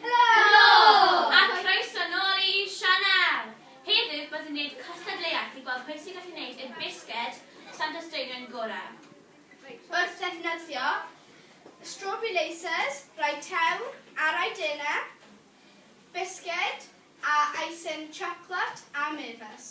Helo! A chroeso nôl i sianel! Heddiw byddwn yn gwneud cystadleuaeth i gweld pwy sy'n gallu gwneud y bisged Santes Draenion gorau. Wrth ddefnyddio strawberry lasers, rai tewn a rai dena, bisged a icing siocled a mefus.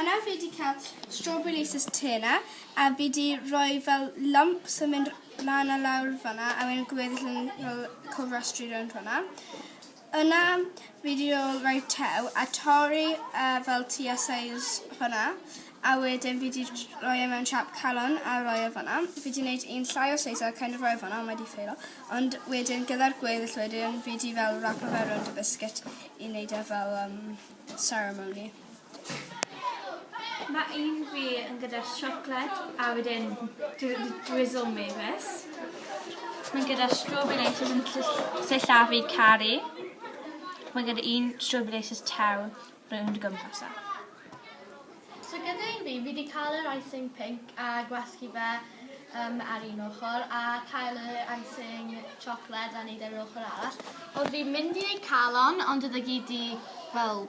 Yna fi di cael strawberry laces te yna a fi di rhoi fel lumps yn mynd lan a lawr fanna a wedyn gweddill yn fel cofrestru rownd fanna. Yna fi di rhoi rhoi tew a torri uh, fel tua size hwnna a wedyn fi di rhoi e mewn siap calon a rhoi e fanna. Fi di wneud un llai o size a kind of rhoi e fanna ond mae di ffeilo. Ond wedyn gyda'r gweddill wedyn fi di fel rapo fe rownd y biscuit i wneud e fel um, ceremony. Ma un fi yn gyda siocled a wedyn dwi wedi drizzle me this. Mae'n gyda strawberry laces yn ll- sillafu caru. Mae gyda un strawberry laces tew rownd y gwmpas e. So gyda un fi, fi wedi cael yr icing pink a gwasgu fe um, ar un ochr a cael y icing siocled a wneud e ar yr ochr arall. Ond fi'n mynd i wneud calon ond oedd e gyd di fel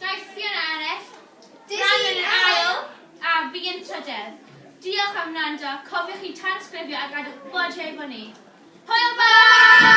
Daeth Ffion Arell, Fran yn ail a fi yn trydedd. Diolch am wrando, cofiwch i tansgrifio a gadwch gwbod hefo ni. Hwyl fawr!